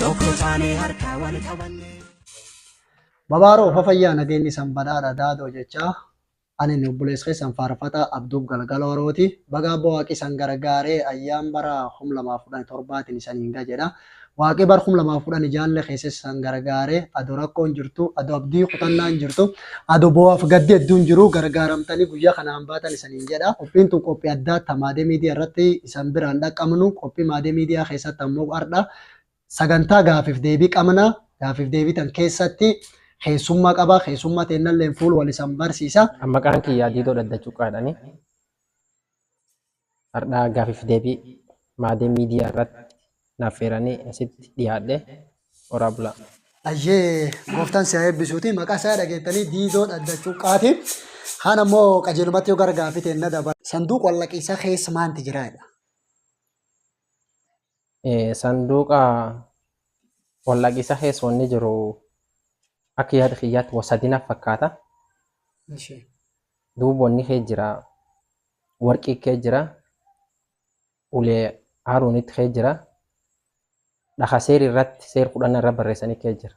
Tokko taanee harkaa wal qabannee. Babaaroo fafayyaa nageenyi san badhaadha daadoo jechaa ani ni obboleessa keessan faarfataa Abduub Galgaloo Harooti baga abbo waaqi san gargaaree ayyaan bara 2017tiin isaniin ga jedha waaqi bar 2010 jaalle keessa san gargaaree ado rakkoon jirtu ado abdii kutannaan jirtu ado boo'aaf gaddi hedduun jiru gargaaramtanii guyyaa kanaan baatan isaniin jedha qophiin tun qophii addaa tamaadee miidiyaa irratti isan biraan dhaqqabnu qophii maadee miidiyaa keessatti ammoo ardha Sagantaa gaaffiif deebii qabna. Gaaffiif deebii tan keessatti keessummaa qaba. Keessummaa teennalleen fuul wal isan barsiisa. An maqaan kiyyaa Diidoo Dhadda Cuqqaadhani. Hardhaa gaaffiif deebii maadee miidiyaa irratti naaf feeranii asitti dhiyaadhe horaa bulaa. Ayyee gooftaan si haa eebbisuuti. Maqaa isaa dhageettanii Diidoo Dhadda Cuqqaati. Kaan ammoo qajeelumatti yoo gara gaaffii teenna dabala. Sanduuq wallaqiisaa keessa maanti jiraadha? sanduuqa waldhaqiisa keessa wanni jiru akka yaada kiyyaatti wa sadina fakkaata. Ishi. Duuba wanni kee jira warqii kee jira ulee haaruunitti kee jira dhaha seeri irratti seer kudhan irra barreessanii kee jira.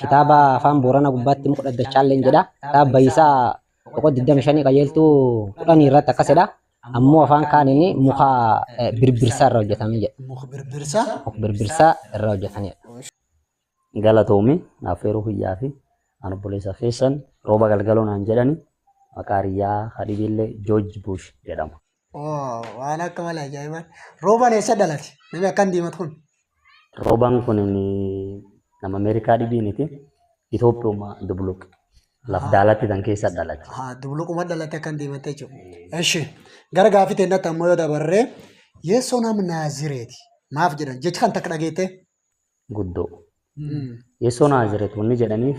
Kitaaba afaan Booranaa gubbaatti muka dhaddachaalleen jedha. Kitaaba Bayisaa boqoo 25 qajeeltuu 10 irratti akkas jedha. Ammoo afaan kaaniin muka eh, birbirsaa irraa hojjetame jedha. Muka birbirsaa. Muka birbirsaa irraa hojjetanidha. galatoomi affeeruu kiyyaa fi an obboleessa keessan rooba galgaloo naan jedhani maqaa hiriyaa hadibiillee joorji buush jedhama. Waan akka malee ajaa'ibaa. Roobaan eessa dhalate? Namni akkan diimatu kun. Roobaan kun nama Ameerikaa dhibii miti. Itoophiyauma dubluq. Laf daalatti tan keessa dhalate. Haa dubluquma dhalate akkan diimatte jechuudha. Eshi gara gaafii teennatti ammoo yoo dabarree yeessoo nam naazireeti. Maaf jedhan jecha kan takka dhageettee? Guddoo. Yeessoo naazireet wanni jedhaniif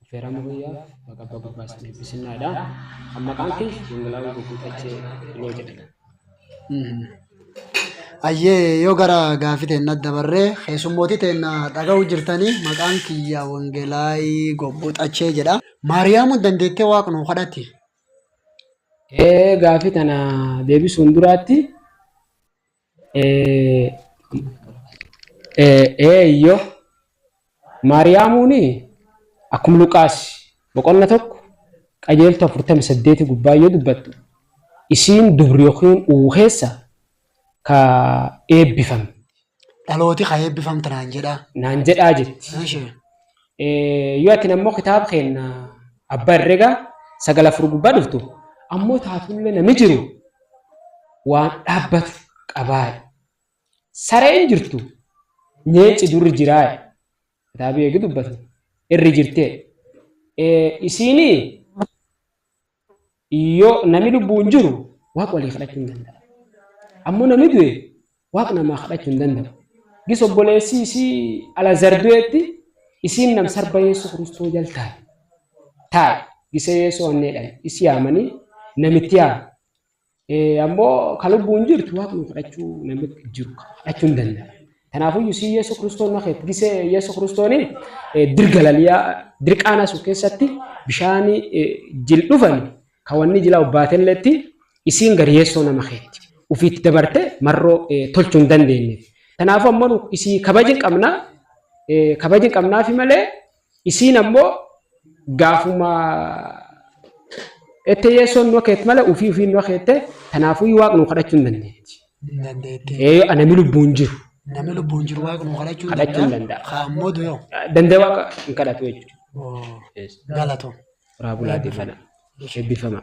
Affeeraa Maquyyaaf baga abbaa gurbaa isin eebbisinnadha. Kan maqaan kee Dhangala'oo Guutuu Xachee Iloo jedhama. Ayyee yoo gara gaafii teenna dabarree keessummootii teenna dhaga'uu jirtanii maqaan kiyya Wangelaayii Gobbuu Xachee jedha. Maariyaamuun dandeettee waaqa nuu kadhatti. Ee gaafii tana deebisuun duraatti Eeyyo, Maariyaamuuni akkuma Luqaas boqonna tokko qajeeltu afurtami saddeeti gubbaa yoo dubbattu isiin dubri yookiin uwu keessa ka eebbifamte. Dhalooti ka eebbifamte naan jedhaa. Naan jedhaa jetti. Eshi. Yoo atin ammoo kitaaba keenna abba herrega sagal afur gubbaa dhuftu ammoo taatullee nami jiru waan dhaabbatu qabaaye. Sareen jirtu nyeenci durri jiraaye. Kitaabii eegi dubbatu irri jirtee. Isiinii Yoo nami lubbuun jiru Waaq walii kadhachuu hin danda'a. Ammoo nami du'e Waaq namaa kadhachuu hin danda'u. Gis obboleessi isii Alazar du'etti isiin nam sarba Yeesuu Kiristoo jal taa'e. Taa'e. Gise Yeesoo hanneedhan isi yaamanii namitti yaame. Eh, ammoo ka lubbuun jirtu waaqni kadhachuu namni jiru kadhachuu hin danda'a. Kanaafuu Yusii Yesu Kiristoon na keetti gisee Yesu Kiristoon dirga laliyaa dirqaana sun keessatti bishaan eh, jil dhufan ka wanni jila obbaatelletti isiin gari Yesu nama keetti ufiitti dabarte marroo eh, tolchuu hin dandeenye. Kanaafuu ammoo nu isii kabajin qabna eh, kabajin qabnaafi malee Isiin ammoo gaafuma ette yeessoon nua keet mala ufii ufiin nua keette tanaafuu waaq nuu kadhachuu hin dandeetti. Hin dandeetti. Ee anami lubbuun jiru Namni lubbuun jiru waaqa nuu kadhachuu hin kadhachuu hin danda'a. danda'a. Kaan moodu yoo. Dandee waaqa hin kadhatu jechuudha. Oo, Yes. Galatoom. Horaa bulaa deemanaa. Eebbifamaa.